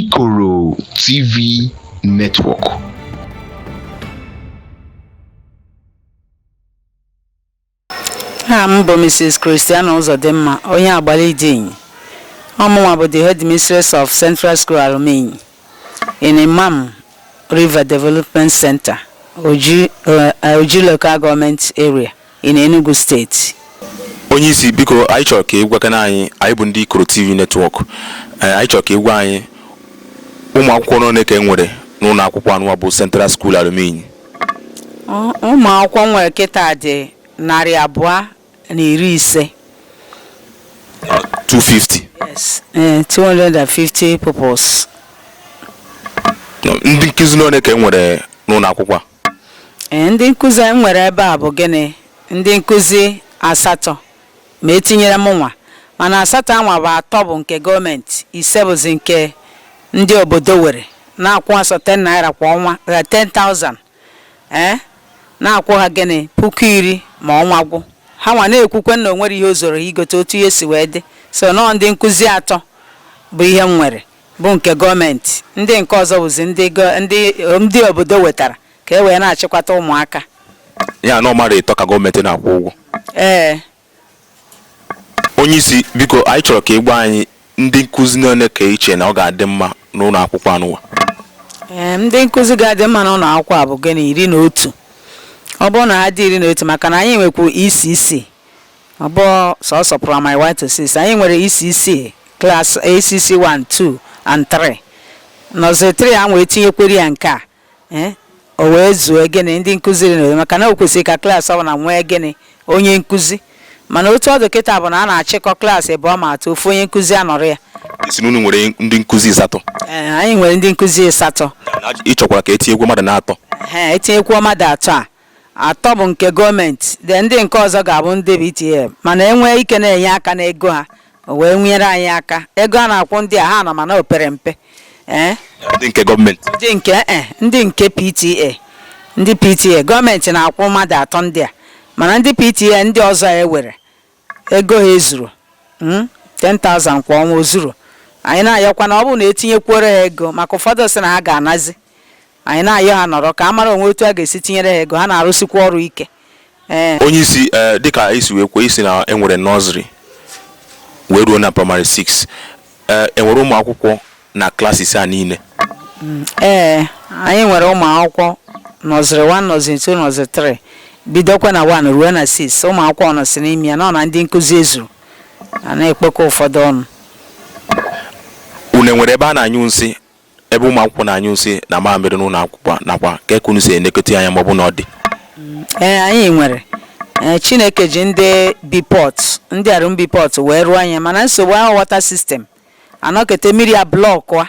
Ikoro TV Network. aha m bụ mrs christiana ụzọdịmma onye Agbalidi Inyi ọmụnwa bụ the headmistress of central school Alum Inyi in Mmam river development center oji, uh, oji local government area in Enugu State. Onye isi biko anyị chọrọ ka ị gwakana anyị anyị bụ ndị Ikoro TV Network eh, anyị chọrọ ka ị gwa anyị ụmụ akwụkwọ n'one ka e nwere n'ụlọ akwụkwọ anụwa bụ Central School Alum Inyi ụmụ akwụkwọ nwere kịta dị narị abụọ na iri ise 250 yes eh, 250 pupils No, ndị nkụzi n'one ka e nwere n'ụlọ akwụkwọ a Ee, ndị nkụzi m nwere ebe a bụ gịnị ndị nkụzi asatọ ma etinyere m nwa mana asatọ anwa bụ atọ bụ nke gọọmenti ise bụzi nke ndị obodo were na-akwụ ha sọ 10 naira kwa ọnwa eh, 10,000 ee na-akwụ ha gịnị puku iri ma ọnwa gwụ ha nwa na-ekwukwe na o nwere ihe o zuoro ha igote otu ihe si wee dị sọ nọọ ndị nkụzi atọ bụ ihe m nwere bụ nke gọọmenti ndị nke ọzọ bụzi ndị ndị ndị obodo wetara ka e wee na-achịkwata ụmụaka ya na ọ mmadụ ịtọ ka gọọmenti na-akwụ ụgwọ ee onye isi biko anyị chọrọ ka ị gwa anyị ndị nkụzi n'one ka i che na ọ ga-adị mma n'ụlọ akwụkwọ anụwa ee ndị nkụzi ga-adị mma n'ụlọ akwụkwọ a bụ gịnị iri na otu ọ bụrụ na ha dị iri na otu maka na anyị nwekwu ECC Ọ bụ sọsọ Praịmarị 1 to 6. Anyị nwere ECC, Class ECC 1, 2 and 3. Nọziri 3 a wee tinyekwere ya nke a. Eh? O wee zuo gịnị ndị nkụzi iri na otu maka na o kwesịrị ka klaasị ọbụla nwee gịnị onye nkụzi. Mana otu ọ dị kịta bụ na a na-achịkọ klaasị abụọ ma atọ ofu onye nkụzi anọrọ ya. Ị sị n'unu nwere ndị nkụzi ịsatọ. Eh, anyị nwere ndị nkụzi ịsatọ. Ị chọkwara ka etinyekwu mmadụ n'atọ. Ehe, etinyekwuo mmadụ atọ a. atọ bụ nke gọọmenti then ndị nke ọzọ ga-abụ ndị PTA mana e nwee ike na-enye aka n'ego ha o wee nyere anyị aka ego a na-akwụ ndị a ha nọ mana o pere mpe ee ndị nke gọọmenti ndị nke e ndị nke PTA ndị PTA gọọmenti na-akwụ mmadụ atọ ndị a mana ndị PTA ndị ọzọ a e were ego ha ezurọ mm, 10,000 kwa ọnwa o zurọ anyị na-ayọkwa na ọ bụrụ na etinyekwuoro ha ego maka ụfọdụ sị na ha ga-anazi anyị na-ayọ ha nọrọ ka a mara o nwe otu a ga-esi tinyere ha ego ha na-arụsikwa ọrụ ike ee onye isi ee dịka i si wee kwuo ị sị na e nwere nọziri wee ruo na praịmarị 6 Ee, enwere ụmụ akwụkwọ na classes a niile. Ee, anyị nwere ụmụ akwụkwọ nursery 1 nursery 2 nursery 3 bidokwa na 1 ruo na 6 ụmụ akwụkwọ nọsị n'ime ya n'ọ na ndị nkụzi ezuru a na-ekpokọ ụfọdụ ọnụ Unu enwere ebe a na-anyụ nsị ebe ụmụ akwụkwọ na-anyụ nsị na mamịrị n'ụlọ akwụkwọ nakwa ka etu unu si elekọta anya ma ọ bụ na ọ dị ee anyị nwere ee chineke ji ndị bipọt ndị arụ bipọt wee rụọ anyị mana nsogbu ahụ water system anọkete mmiri ablọkụa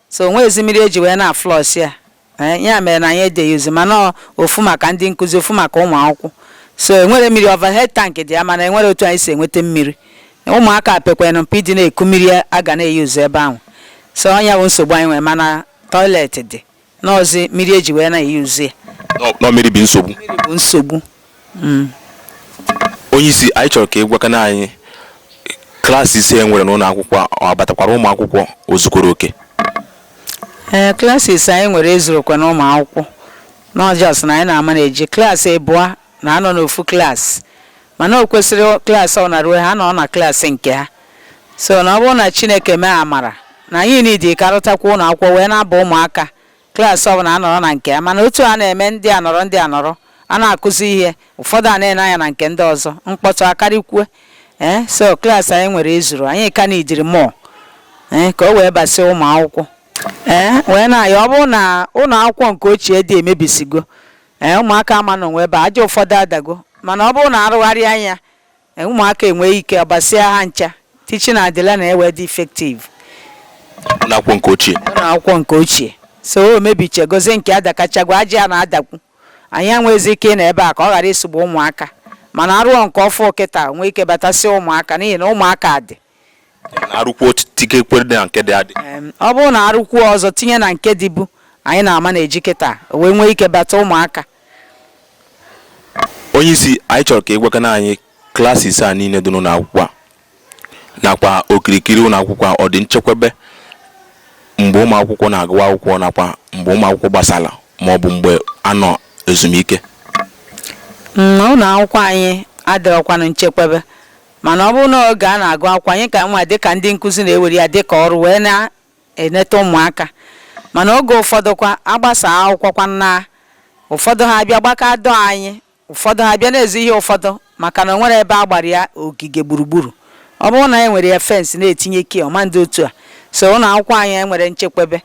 so o nwezi mmiri e ji wee na-aflush ya ee ya mere na anyị adị eyuzi mana ọ ofu maka ndị nkụzi ofu maka ụmụ akwụkwọ so enwere mmiri overhead tank dị ya mana enwere otu anyị si enweta mmiri ụmụaka pekwanụ mpe ịdị na-eku mmiri a ga na-eyuzu ebe ahụ so ọ nya bụ nsogbu anyị nwere mana toilet dị n'ọzi mmiri e ji wee na-eyuzu ya n'ọ mmiri bụ nsogbu bụ nsogbu mm. onye isi anyị chọrọ ka ị gwakana anyị classes e nwere n'ụlọ akwụkwọ ọ batakwara ụmụ akwụkwọ o zukwara oke ee classes anyị nwere ezurokwanụ ụmụ akwụkwọ n'ọ just na anyị na-amanage klaasị abụọ na-anọ n'ofu klaasị mana o kwesịrị klaasị ọ na-ruo ha nọ na klaasị nke ha so na ọ bụrụ na Chineke mee amara na anyị need ka a rụtakwa ụlọ akwụkwọ wee na-aba ụmụaka klaasị ọbụla anọrọ na nke ya mana otu a na-eme ndị a nọrọ ndị a nọrọ a na-akụzi ihe ụfọdụ a na-ene anya na nke ndị ọzọ mkpọtụ akarịkwue ee eh, so klaasị anyị nwere ezuru anyị ka needịrị more ee eh, ka o wee basị ụmụ akwụkwọ ee eh, wee na-ayọ ọ bụrụ na ụlọ akwụkwọ nke ochie dị emebisigo ee ụmụaka ama nọnwu ebe a, aja ụfọdụ adago mana ọ bụrụ na a rụgharịa nya ee, ụmụaka enwee ike ọbasịa ha ncha teaching and learning ewee dị effective ụlọ akwụkwọ nke ochie ụlọ akwụkwọ nke ochie so o mebichegozie nke adakachagwa aja ya na-adakwu anyị enwezi ike ịnọ ebe a ka ọ ghara isogbu ụmụaka mana a rụọ nke ọfụ kịta o nwee ike batasịa ụmụaka n'ihi na ụmụaka dị arụkwuo tikekwe na nke dị adị ọ bụrụ na a rụkwuo ọzọ tinye na nke dịbu anyị na-amanage kịta wee nwee ike bata ụmụaka onye isi anyị chọrọ ka ị gwakana anyị classes a niile dị n'ụlọ akwụkwọ a nakwa okirikiri ụlọ akwụkwọ ọ dị nchekwebe mgbe ụmụ akwụkwọ na-agụwa akwụkwọ nakwa mgbe ụmụ akwụkwọ gbasara ma ọ bụ mgbe a nọ ezumike mm, ụlọ akwụkwọ anyị adịrọkwanụ nchekwebe Mana ọ bụrụ na oge a na-agụ akwụkwọ, anyị ka nwa dịka ndị nkụzi na-ewere ya dịka ọrụ wee na-eneta ụmụaka. Mana oge ụfọdụkwa, a gbasaa akwụkwọ kwanụ na ụfọdụ ha abịa gbakọọ door anyị, ụfọdụ ha bịa na-ezu ihe ụfọdụ maka na o nwere ebe a gbara ya ogige gburugburu. Ọ bụrụ na e nwere ya fence na-etinye key, ọ ma dị otu a. So ụlọ akwụkwọ anyị enwere nchekwebe.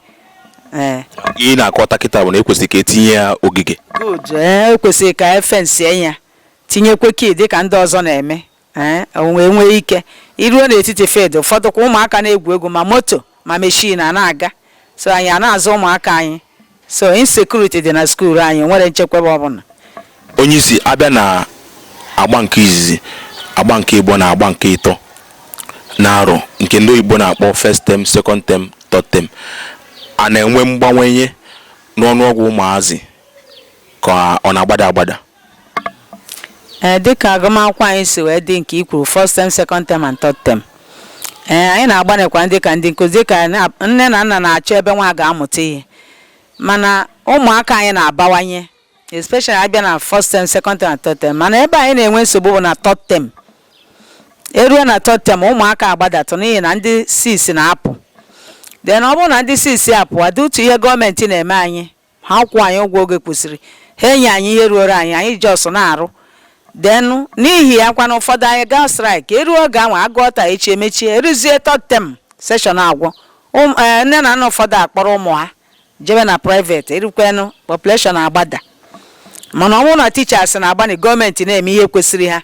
Ee. Ihe ị na-akọwata kịta bụ na e kwesịrị ka e tinye ya ogige. Good. Ee, e kwesịrị ka e fensie ya. tinyekwe key dịka ndị ọzọ na-eme ee wee nwee ike iruo n'etiti field ụfọdụ kwa ụmụaka na-egwu egwu ma moto ma meshin a na-aga so anyị a na-azụ ụmụaka anyị so insecurity dị na skuul anyị nwere nchekwaba ọbụla onye isi abịa na agba nke izizi agba nke ịbọ na agba nke ịtọ na arọ nke ndị oyibo na-akpọ first term second term third term a na-enwe mgbawanye n'ọnụọgwụ ụmụazị ka ọ na-agbada agbada ee dịka agụmakwụkwọ anyị si wee dị nke i kwuru first term second term and third term ee anyị na-agbanịkwa dịka ndị nkụzi dịka na- nne na nna na-achọ ebe nwa ga-amụta ihe mana ụmụaka anyị na-abawanye especially abịa na first term second term and third term mana ebe anyị na-enwe nsogbu bụ na third term eruo na third term ụmụaka agbadatụ n'ihi na ndị 6 na-apụ then ọ bụrụ na ndị 6 apụ ọ dị otu ihe gọọmenti na-eme anyị ha akwụ anyị ụgwọ oge kwesịrị ha enye anyị ihe ruoro anyị anyị just na-arụ then n'ihi ya kwana ụfọdụ anyị gaa strike eruo oge ahụ agụọ taa echi emechie eruzie third term session agwụ Ụm- eh, nne na nna ụfọdụ akpọrọ ụmụ ha jebe na private erukwenụ population agbada mana ọ bụrụ na teachers na-agbanị gọọmenti na-eme ihe kwesịrị ha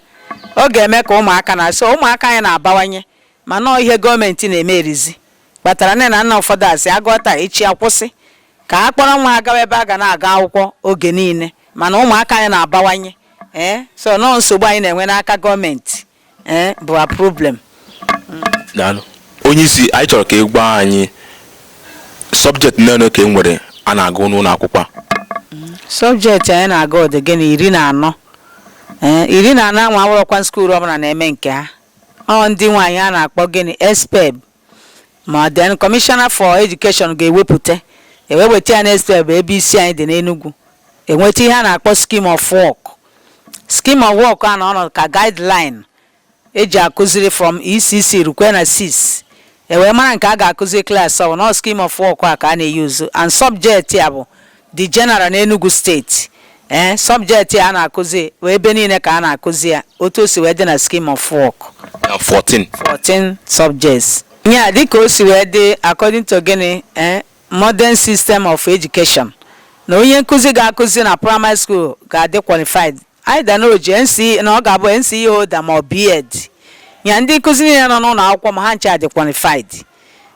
ọ ga-eme ka ụmụaka na-asị ụmụaka anyị na-abawanye mana ọ ihe gọọmenti na-eme erizi kpatara nne na nna ụfọdụ asị agụọ taa echi akwụsị ka a kpọrọ nwa ha gawa ebe a ga na-aga akwụkwọ oge niile mana ụmụaka anyị na-abawanye ee so nọọ nsogbu anyị na-enwe n'aka gọọmenti ee bụ a problem daalụ onye isi anyị chọrọ ka ị gwa anyị subject niile ka e nwere a na-agụ n'ụlọ akwụkwọ a subject anyị na-agụ dị gịnị iri na anọ ee iri na anọ anwa awụrọkwa skuul ọbụla na-eme nke ha ọ ndị nwe anyị a na-akpọ gịnị SPEB ma then commissioner for education ga-ewepụta ewee weta ya na SPEB ebe isi anyị dị n'Enugu eweta ihe a na-akpọ scheme of work scheme of work a na ọ nọdụ ka guideline eji akụziri from ECC rukwe na 6 ewee mara nke a ga-akụziri klaasị ọbụna scheme of work a ka a na-eyuzu and subject ya bụ dị general n'Enugu steeti ee eh, subject a na-akụzi ee ebe niile ka a na-akụzi ya otu o si wee dị na scheme of work 14 14 subjects ya dịka o si wee dị according to gịnị ee eh, modern system of education na onye nkụzi ga-akụzi na primary school ga-adị qualified either na o ji NCE na ọ ga-abụ NCE holder ma ọ BEd ya ndị nkụzi niile nọ n'ụlọ akwụkwọ m a ha ncha dị qualified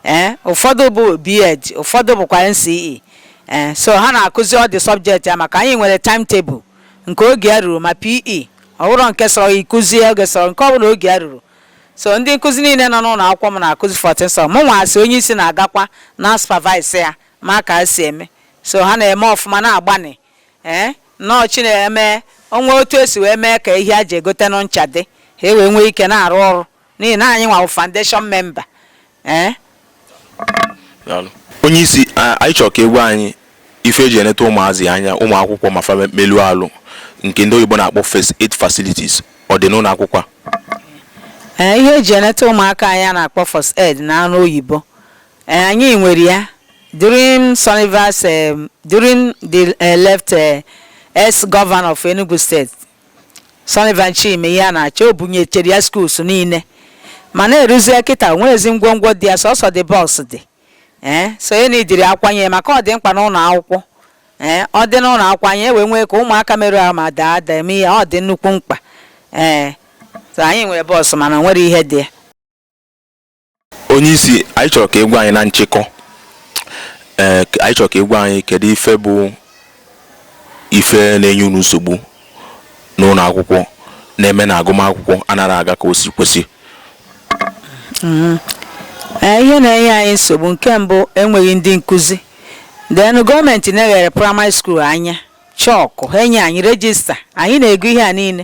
ee eh, ụfọdụ bụ BEd ụfọdụ bụkwa NCE ee eh, so ha na-akụzi all the subject ya maka anyị nwere timetable nke oge ya ruru ma PE ọ bụrụ nke sọrọ ịkụzie oge sọrọ nke ọbụla oge ya ruru so ndị nkụzi niile nọ n'ụlọ akwụkwọ m na-akụzi 14 so mụ nwa as onye isi na-agakwa na supervise ya ma ka ha si eme so ha na-eme ọfụma na-agbanị ee nnọọ chineke emee o nwee otu e si wee mee ka ihe a ji egote nụ ncha dị ha e wee nwee ike na-arụ ọrụ n'ihi na anyị nwa wụ foundation memba ee onye isi anyị chọrọ ka ị gwa anyị ife e ji eneta ụmụazị anya ụmụ akwụkwọ ma fa melụ alụ nke ndị oyibo na-akpọ first aid facilities ọ dị n'ụlọ akwụkwọ a ihe e ji eneta ụmụaka anya a na-akpọ first aid n'ọnụ oyibo Eh, anyị nwere ya during Sullivan's eh, during the eh, left eh, ex governor of Enugu State Sullivan Chime na-achị o bunyechere ya schools niile mana eruzie kịta o nwerọzi ngwongwo dị ya sọsọ the box dị ee so ya na idiri akwanye maka ọ dị mkpa n'ụlọ akwụkwọ ee ọ dị n'ụlọ akwụkwọ anyị wee nwee ka ụmụaka merụ ahụ ma daa ada eme ihe ọ dị nnukwu mkpa ee so anyị nwere box mana o nwerọ ihe dị ya onye isi anyị chọrọ ka ị gwa anyị na nchịkọ ee eh, anyị chọrọ ka ị gwa anyị kedu ife bụ ife na-enye unu nsogbu n'ụlọ akwụkwọ na-eme na agụmakwụkwọ anaghị aga ka o si kwesị mm-hmm. eh, ihe na-enye anyị nsogbu nke mbụ enweghị ndị nkụzi then gọọmenti neghara praịmarị skuul anya chalk ha enye anyị rejista anyị na-ego ihe a niile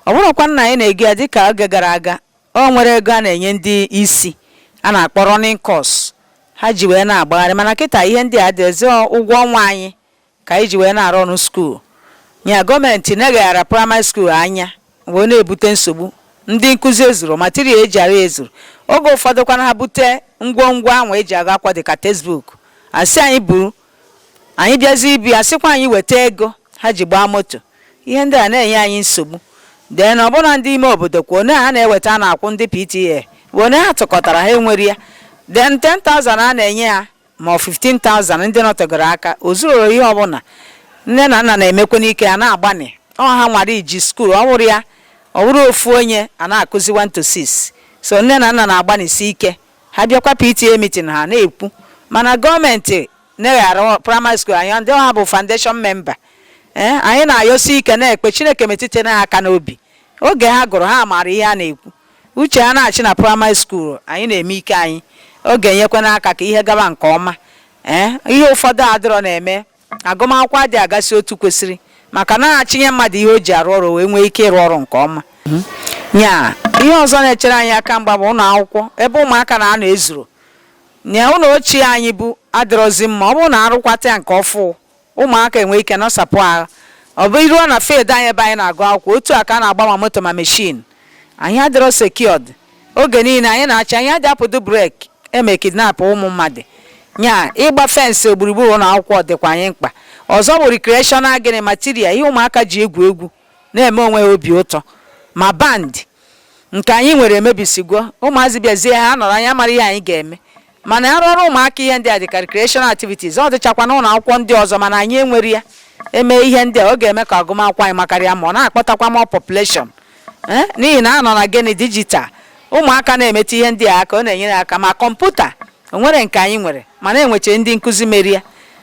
ọ bụrọkwa na anyị na-ego ya dịka oge gara aga O nwere ego a na-enye ndị isi a na-akpọ running cost ha ji wee na-agbagharị mana kịta ihe ndị a adịrọzi ụgwọ ọnwa anyị ka anyị ji wee na-arun skuul nya gọọmenti neghara praịmarị skuul anya wee na-ebute nsogbu ndị nkụzi ezurọ material e ji arụ ezurọ oge ụfọdụ kwana ha bute ngwongwo ahụ e ji agụ akwụkwọ dịka textbook a sị anyị buru anyị bịazi ibu ya a sịkwa anyị weta ego ha ji gbaa moto ihe ndị a na-enye anyị nsogbu then ọbụna ndị ime obodo kwa one ha na-eweta a na-akwụ ndị PTA bụ one ha tụkọtara ha enwere ya then 10,000 a na-enye ha ma ọ 15,000 ndị nọtegoro aka o zurọrọ ihe ọbụla nne na nna na-emekwanụ ike ha na-agbanị ọ ha nwara iji skuul ọ wụrọ ya ọ wụrụ ofu onye a na-akụzi 1 to 6 so nne na nna na-agbanịsi ike Ha bịakwa PTA meeting ha na-ekwu mana gọọmenti neghara praịmarị skuul anya ndị ọ ha bụ foundation memba ee anyị na-ayọsi ike na-ekpe Chineke metụta ha aka n'obi oge ha gụrụ ha maara ihe a na-ekwu uche ha na-achị na praịmarị skuul anyị na-eme ike anyị ọ ga-enyekwanụ aka ka ihe gaba nke ọma ee ihe ụfọdụ adịrọ na-eme agụmakwụkwọ adị agasị otu kwesịrị maka na a chịnye mmadụ ihe o ji arụ ọrụ wee nwee ike ịrụ ọrụ nke ọma mhm. nya ihe ọzọ na-echere anyị aka mgba bụ ụlọ akwụkwọ ebe ụmụaka na-anọ ezurọ nya ụlọ ochie anyị bu adịrọzi mma ọ bụrụ na a rụkwata ya nke ọfụụ ụmụaka enwe ike nọsapụ ahụ ọ bịaruo na field anyị ebe anyị na-agụ akwụkwọ otu a ka a na-agba ma moto ma meshin anyị adịrọ secured oge niile anyị na-achọ anyị adị apụdụ break eme kidnap ụmụ mmadụ nya ịgba fensị gburugburu ụlọ akwụkwọ dịkwa anyị mkpa ọzọ bụ recreational gịnị material ihe ụmụaka ji egwu egwu na-eme onwe ha obi ụtọ ma band nke anyị nwere emebisigo ụmụazị bịazie ha nọrọ anyị amara ihe anyị ga-eme mana a rụọrọ ụmụaka ihe ndị a dịka recreational activities ọ dịchakwa n'ụlọ akwụkwọ ndị ọzọ mana anyị enwere ya eme ihe ndị a ọ ga-eme ka agụmakwụkwọ anyị makarịa mma ọ na-akpọtakwa more population eh? n'ihi na a nọ na gịnị dijital ụmụaka na-emetụ ihe ndị a aka ọ na-enyere aka ma kọmputa o nwere nke anyị nwere mana enweche ndị nkụzi mere ya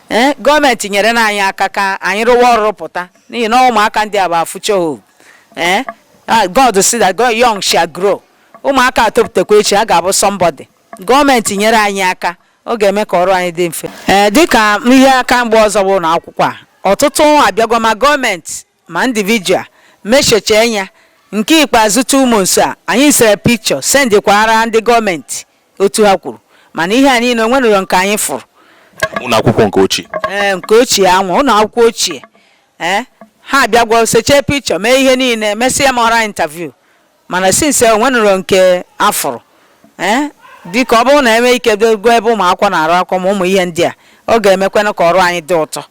eh? gọọmenti nyerenụ anyị aka ka anyị rụwa ọrụ rụpụta n'ihi na ụmụaka ndị a bụ future hope ee eh? ah, God said that young shall grow ụmụaka etopụtakwa echi a ga-abụ somebody gọọmenti nyere anyị aka ọ ga-eme ka ọrụ anyị dị mfe ee dịka ihe aka mgba ọzọ bụ na akwụkwọ a ọtụtụ abịagwa ma gọọmenti ma individual mechecha anya nke ikpeazụ two months a anyị sere picture sendịkwara ndị gọọmenti otu ha kwuru mana ihe a niile o nwenụrọ nke anyị fụrụ ụlọ akwụkwọ nke ochie ee nke ochie anwa ụlọ akwụkwọ ochie ee ha abịagwa seche picture mee ihe niile mesịa m oral interview mana since o nwenụrọ nke a fụrụ ee dịka ọ bụrụ na e nwee ike goo ebe ụmụ akwụkwọ na-agụ akwụkwọ ma ụmụ ihe ndị a ọ ga-emekwana ka ọrụ anyị dị ụtọ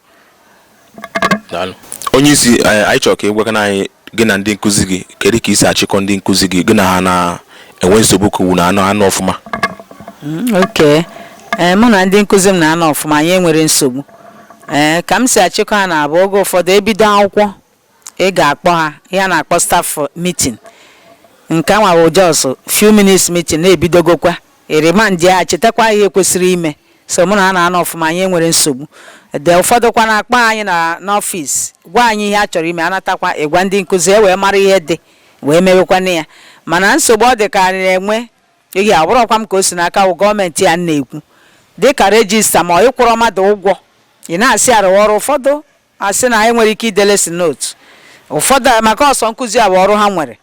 onye isi eh, anyị chọrọ ka ị gwakana anyị gị na ndị nkụzi gị kedu ka i si achịkọ ndị nkụzi gị gị na ha na-enwe nsogbu ka unu na-anọ ọfụma mm, okay eh, mụ na ndị nkụzi m na-anọ ọfụma anyị enwere nsogbu ee eh, ka m si achịkọ ha na-abụ oge ụfọdụ e bido akwụkwọ ị ga-akpọ ha ihe a na-akpọ staff meeting nke anwa bụ just few minutes meeting na e bidogokwa i remindị ha chetakwa ihe kwesịrị ime so mụ na ha na-anọ ọfụma anyị enwere nsogbu oge ụfọdụkwa na-akpọ anyị n'ọfịs gwa anyị ihe a chọrọ ime a natakwa ị gwa ndị nkụzi e wee mara ihe dị wee mewekwana ya mana nsogbu ọ dị ka anyị na-enwe ihe awụrọkwa m ka o si n'aka wụ gọọmenti ihe a na-ekwu dịka rejista ma ị kwụrọ mmadụ ụgwọ ị na-asị ya rụwa ọrụ ụfọdụ A sị na anyị nwere ike ide lesson note ụfọdụ maka ọsọ nkụzi a bụ ọrụ ha nwere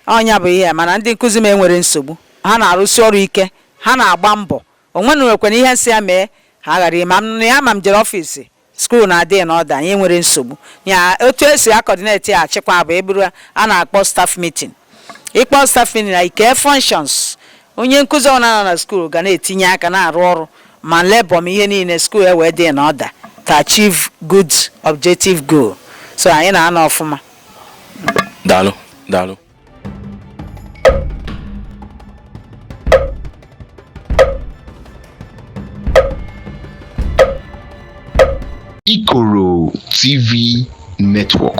ọ nya bụ ihe mana ndị nkụzi m enwere nsogbu ha na-arụsi ọrụ ike ha na-agba mbọ o nwenụrọkwana ihe m sị ha mee ha ghara ime ya ma m jere ọfiisi skuul na-adị in order anyị enwere nsogbu ya otu e si akọdineti ya achịkwa bụ eburu a na-akpọ staff meeting ị kpọ staff meeting na ike functions Onye nkụzi ọbụla nọ na skuul ga na-etinye aka na-arụ ọrụ ma lebọ ma ihe niile skuul e wee dị in order to achieve good objective goal so anyị na-anọ ọfụma daalụ daalụ Ikoro TV Network